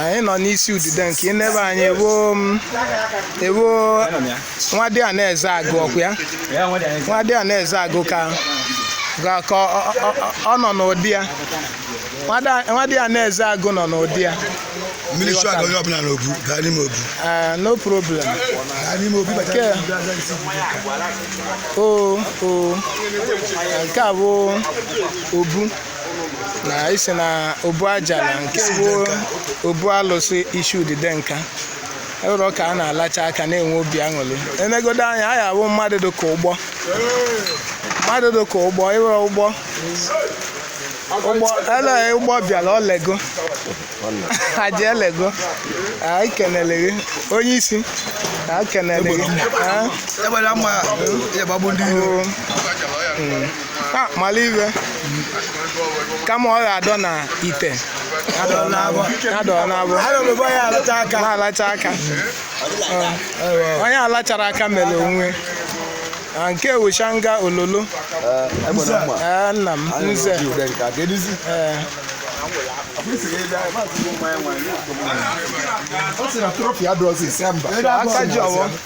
anyị nọ n'isi udide nke ịnebe anyị ewo ewo nwadịana Ezeagụ ọkwa ya nwadịana Ezeagụ ka ka ọ nọ n'ụdị ya nwadịana Ezeagụ nọ n'ụdị ya mmiri chụ aga onye ọbụla n'obu gaa n'ime obu eh, no problem gaa n'ime obu nke o o nke a bụ obu na isi na obu ajala nke bụ obu alụsị isi udide nka ụlọ ka a na-alacha aka na-enwe obi aṅụrị enegodo anya a ya-abụ mmadụ dị ka ụgbọ mmadụ dị ka ụgbọ ịwere ụgbọ ụgbọ ele ụgbọ bịara olego aja elego anyị kenele gị onye isi anyị kenele gị Egbe na mma ya gbagbu ndị iro. Ah, mm. Ah, mala ihe kama ọ ga-adọ na ite adọ n'abọ adọ n'abọ adọ n'abọ ya alacha aka na-alacha aka onye alachara aka mere onwe ah, nke wuchanga ololo eh, eh, nna m nze ọ sị na trọfị adọzi ise mba aka ji ọwọ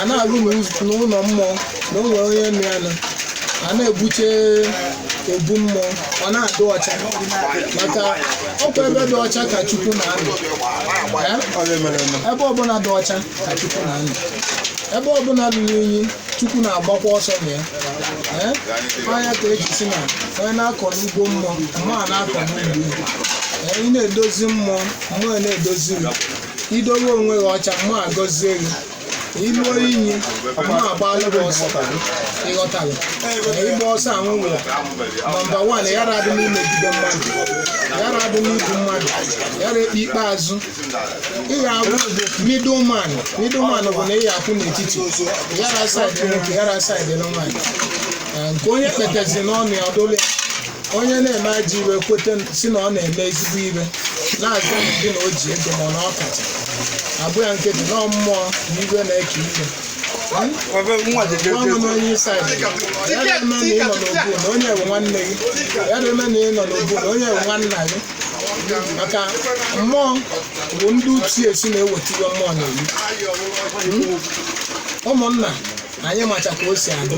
a na-alụ n'ụz- n'ụlọ mmụọ na o nwere onye nụ ya nụ a na-ebuche obu mmụọ ọ na-adị ọcha maka ọkwa ebe dị ọcha ka chukwu na-anọ Eh? Ọ dị mere eme. ebe ọbụla dị ọcha ka chukwu na-anọ ebe ọbụla ruru unyi chukwu na-agbakwa ọsọ na ya Eh? ọ ya ka eji si na onye na-akọ n'ugbo mmụọ mmụọ a na-akọ n'ugbo ya. Eh, ị na-edozi mmụọ mmụọ na-edozi gị idowe onwe gị ọcha mmụọ agọzie gị iluo inyi mmụọ agbalụ gị ọsọ ịghọtara na ịgba ọsọ ahụ nwere nọmba wan yara adị n'imegide mmadụ yara adị n'igbu mmadụ yara ekpe ikpeazụ ị ga-abụ middleman middleman bụ na ị ga-akwụ n'etiti yara saịdị nwoke yara saịdị nwaanyị nke onye kpetezi n'ọnụ ya ọ dụlụ ya onye na-eme ajọ ihe kweta si na ọ na-eme ezigbo ihe na-azụ ndị na o ji ego ma na ọ kacha abụ ya nkịtị na mmụọ na iwe na-eke iwe gwanụ n'onye isi anyị ya na-eme na ị nọ n'obu na onye bụ nwanne gị ya na-eme na ị nọ n'obu na onye bụ nwanna gị maka mmụọ bụ ndị utu esi na-eweta ihe mmụọ na-eyi ụmụnna anyị macha ka o si adị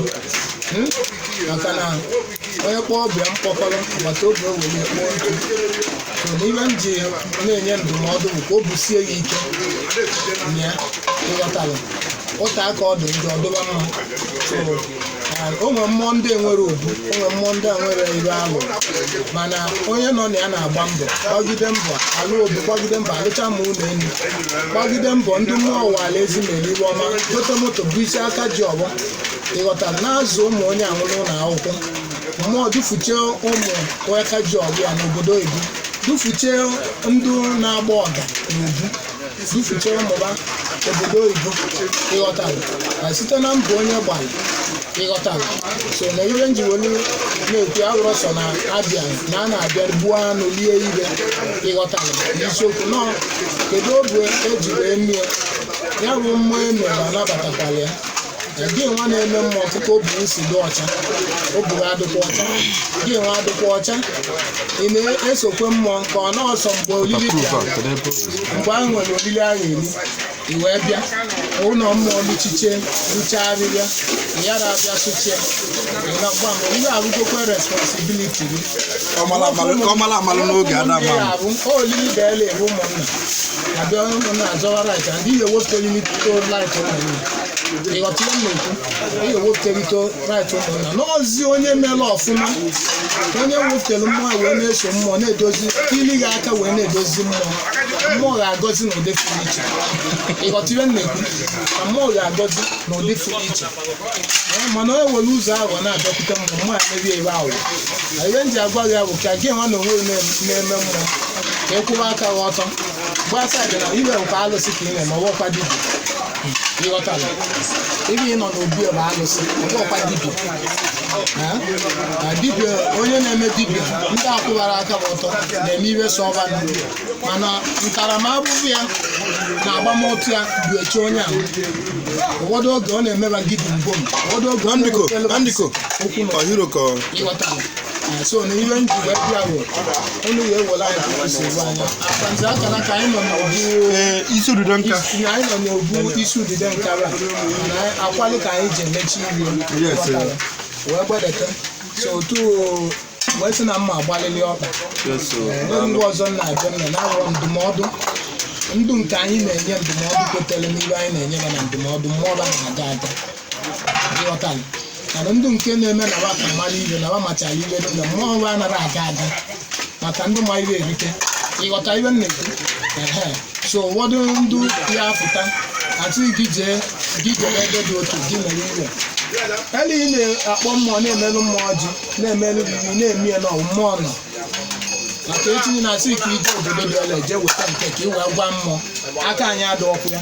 maka na onye kpọọ ọba ya mkpọkọrọ agbata obi o were ya kpoo ntụ so na ihe m ji na-enye ndụmọdụ bụ ka o busie ya ike na ya ịghọtara ụta aka ọ dị njọ ọ dịba mma so ah, o nwere mmụọ ndị enwere obu o nwere mmụọ ndị enwere ihe alụ mana onye nọ na ya na-agba mbọ gbagide mbọ alụ obu gbagide mbọ alụcha ma ụlọ elu gbagide mbọ ndị mmụọ ụwa ala ezi mere ihe ọma gote moto bụ isi aka ji ọfọ ịghọta na-azụ ụmụ onye ahụ n'ụlọ akwụkwọ mmụọ dufuchie ụmụ onye aka ji ọfọ ya n'obodo oyibo dufuchie ndị na-agba ọga n'obu dufuchie ụmụ ha obodo oyibo ịghọtara na site na mbọ onye gbara ịghọtara so na ihe nji welu na-ekwu awụrọ sọ na abịa na a na-abịa gbuo anụ lie ihe ịghọtara n'isiokwu nọ kedu obu eji wee mie ya bụ mmụọ emere anabatakwala ya gị nwa na-eme mmụọ ọtụtụ obu alụsị dị ọcha obu gị adịkwa ọcha gị nwa adịkwa ọcha ị na-esokwe mmụọ ka ọ na ọsọ mgbe olili bịa mgbe ahụ nwere olili ahụ eli i wee bịa ụlọ mmụọ luchiche luchaa arịrịa yara abịa sụchie gbam ihe abụgokwe responsibiliti gị ọmala amalụ- ọmala amalụ n'oge ada Ndị ama arụ, o olili ga-ele ebe ụmụnna abịa ụmụnna azọwa rait ndị ga-ewepụta olili tuto rait ụmụnna ịghọtara m ekwu ị ga-ewepụterịta right ụmụnna n'ozi onye mere ọfụma onye wepụtara mmụọ wee na-eso mmụọ na-edozi ili gị aka wee na-edozi mmụọ mmụọ ga-agọzi n'ụdị pụrụ iche ịghọtara m ekwu na mmụọ ga-agọzi n'ụdị pụrụ iche Ee, mana onye were ụzọ ahụ na-abịakwute mmụọ mmụọ a merie ebe ahụ na ihe m ji agwa gị bụ ka gị nwa na onwe gị na-eme mmụọ ka ị kwụwa aka gị ọtọ gbasa dị na ihe nke alụsị ka ị na-eme ọ bụkwa dibia ịghọtara ebe ị nọ n'obi bụ alụsị ọ bụkwa dibia Ha? na dibia onye na-eme dibia ndị akwụbara aka ha ọtọ na-eme ihe so ọba na mana ntaramahụhụ ya na agbamụtụ ya bụ eche onye ahụ ụfọdụ oge ọ na-emeba gidi mbom ụfọdụ oge ọ Andiko, na-ewepelu Andiko, okwu na ọ hero ka ọ- ịghọtara so na ihe nji wee bịa bụ unu ya ewela anyị na nsogbu anya akanzi aka na ka anyị nọ n'obu ee isi ududo nka isi- na anyị nọ n'obu isi udide nkara na akwalụ ka anyị ji emechi ihe Yes, sir. Ọkara. wee gbedete so otu o- wee sị na mma agbalịlị ọkpa Ee, ndị ọzọ na-abịa na-anara ndụmọdụ ndụ nke anyị na-enye ndụmọdụ kwetara n'ihe anyị na-enye ya na ndụmọdụ mmụọ ọba na-aga aga ịghọtara mana ndị nke na-eme na wa ka mara ihe na wa machara ihe dị na mmụọ wa anaghị aga aga maka ndị ma ihe erike ị ghọta ihe m na-ekwu Ehe. so ụfọdụ ndị ya apụta atụghị gị jee gị jere ebe dị otu gị mere ihe elu ị na-akpọ mmụọ na-emelụ mmụọ ji na-emelụ gị gị na-eme ya na ọ mmụọ nọ maka etinye na a sị ka i je obodo dị ọla eje weta nke ka ị wee gwa mmụọ aka anyị adịrọkwa ya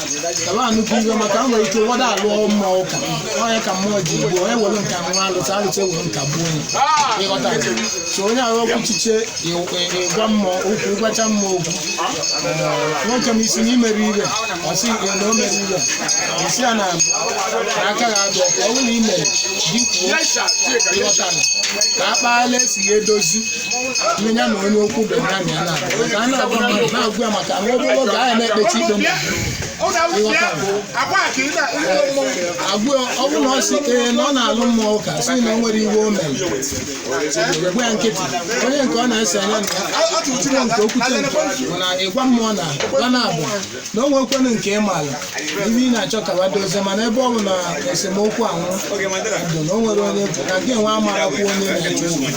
kaba nnukwu ihe maka a nwere ike ụfọdụ alụọ mmụọ ụka onye ka mmụọ ji gbuo onye were nka nwa alụta alụta e were nka gbuo onye ị ghọta so onye ahụ okwu chiche ị- ị- ịgwa mmụọ okwu ịgwacha mmụọ okwu Ee, nwoke m ị sị na i mere ihe ọ sị ya na o mere ihe ị sị ya na na aka gị adịrọkwa ọ bụrụ na i mere di kwuo ị ghọta ka a kpaala e si ya edozi onye ya na onye okwu dị ya na ya na ka a na-agwa mmadụ na-agwa ya maka nwa obere oge ahụ na-ekpechi ikpe mmadụ agwụ ọ bụrụ na ọ sị ee na ọ na-alụ mmụọ ụka sị na o nwere ihe o mere gwa ya nkịtị onye nke ọ na-ese anya na ya ọ nke o kwute nke ọ na ịgwa mmụọ na gwa na abụ na o nwekwanụ nke ị maara ihe ị na-achọ ka wa dozie mana ebe ọ bụ na esemokwu anwụ ndụ na o nwere onye na gị nwe amarakwu onye na-eche unu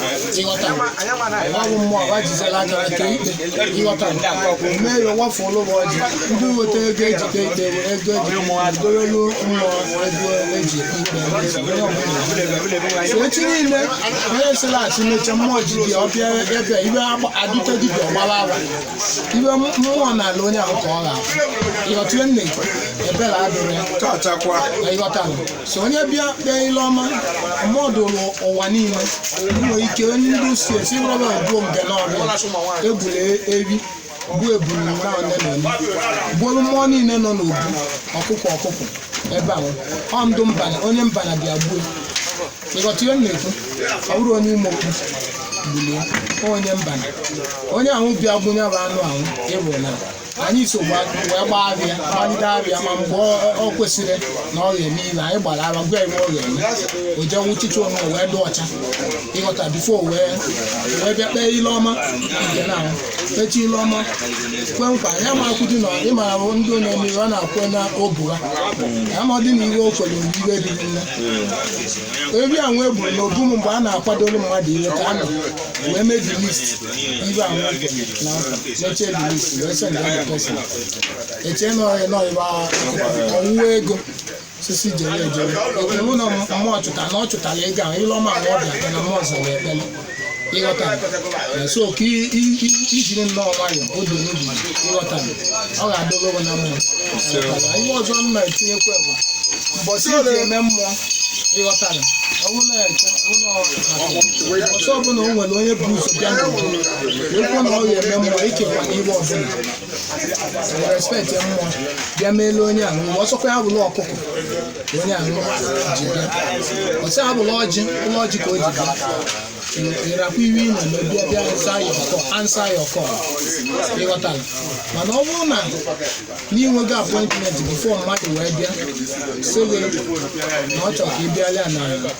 ị ghọta ọ bụ mmụọ gwa jizela aka ka ikpe ị ghọta mee ya wafu ụlọ ụwa ọjị ndị weta ego e jide ikpe were ego e jide dorelu mmụọ ego e ji ikpe onye ọbụla so echi niile onye sịlachi meche mmụọ ji dị ọbịa ebe ihe adịte dibịa ọ gbara afa ihe mmụọ nalụ onye ahụ ka ọ ga-abụ ịghọtụle nne ebere adụrụ ya Chọchakwa. ị ghọtara so onye bịa kpee ile ọma mmụọ dụrụ ụwa niile nwere ike onye ndị si esi rọba obuo mbe n'ọbịa egbulu ehi gbuo ebulu na one na one gbuolu mmụọ niile nọ n'obu ọkụkọ ọkụkọ ebe ahụ ọ ndị mbana onye mbana bịa gbuo ị ghọta ihe m na-ekwu ọ bụrụ onye ime okwu gbulie onye mbana onye ahụ bịa gbunye bụ anụ ahụ ị hụ na anyị so gba- wee gbaa abịa gbalite abịa ma mgbe ọ- ọ kwesịrị na ọ ga-eme ihe anyị gbara afa gwa ebe ọ ga-eme o jee wụchicha onwe o wee dị ọcha ị ghọta before wee wee bịa kpee ile ọma nke na ahụ echi ile ọma kwe nkwa ya ma akwụdị na ịma ahụ ndị onye mmiri ọ na-akwe na obu ha ya ma ọ dị na ihe o kwere mgbe ihe dị nne ehi a wee gburu na obu m mgbe a na-akwadoro mmadụ ihe ka a nọ wee mee the list ihe a wee kwere na nkwa mechie the list wee send the person echee na ọrịa na ọrịa ọwụwa ego osisi jere ejere iwu na mmụọ chụta na ọ chụtara ego ahụ ile ọma abụọ bịa na mmụọ zara ekpere ị ghọta so ka i jiri nnọọ nwee udo n'obi ị ghọta ọ ga-adịrị ụgwọ na mmụọ ihe ọzọ m na-etinyekwa bụ mbọsị e ji eme mmụọ ị ghọtara ọsọ ọbụla o nwere onye bu ụzọ bịa n'ụwa ekwu na ọ ga-eme mmụọ ikekwa iwe ọbụla respect ya ma ọ bịa meele onye ahụ ọ sọkwa ya bụlụ ọkụkọ ka onye ahụ ji bịa ọ sọ ya bụlụ ọjị ụlọ ọjị ka o ji bịa ịrakwa iwe ị nọ na bịa bịa answer ya oku answer ya oku ị ghọtara mana ọ bụrụ na i nwego appointment before mmadụ wee bịa sị gị na ọ chọrọ ka ị bịara ya na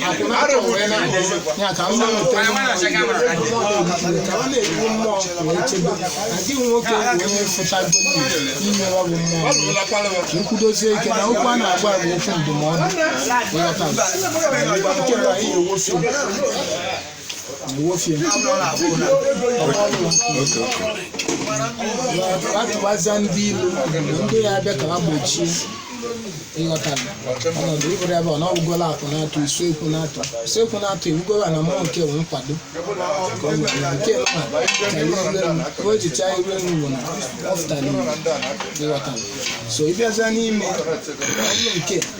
ya ka mma nke ka ọ na-ekwu mmụọ wee chebe na gị nwoke bụ onye fụtago inye ọ bụ mmụọ ka nkwudozie ike na okwu a na-agba bụ okwu ndụmọdụ nghọta nke bụ anyị ewofe atụbaza ndị ilu ndị ya abịa ka ha gbochie ị ghọta ọnọdụ ịbụrụ ebe ọ na ọgwụgola akụ na-atụ usekwu na-atụ usekwu na-atụ iwugola na mmụọ nke bụ nkwado ka ọ nwere na nke nwa karịa iru elu ka o jicha iru elu bụ na ọ fụtara iwu ị ghọta so ị bịazịa n'ime ọnụ nke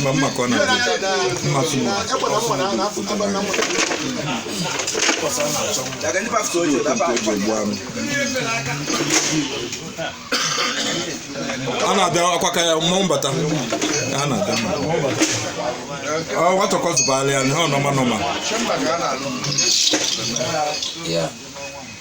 mma mma ka ọ na-adị mma tụrụ a na-abịa akwa ka ya mmanwụ bata a na-abịa ọ nwatọkọtụbala ya na ọ nọma nọma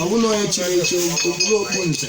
ọ bụrụ na onye chiri echi o kpuru okpu nze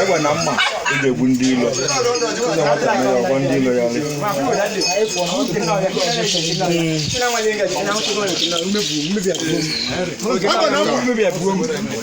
egbe na mma e ji egbu ndị ilo ụzọ nwata na ya ọgwọ ndị ilo ya ọlị Mmebi abụọ m.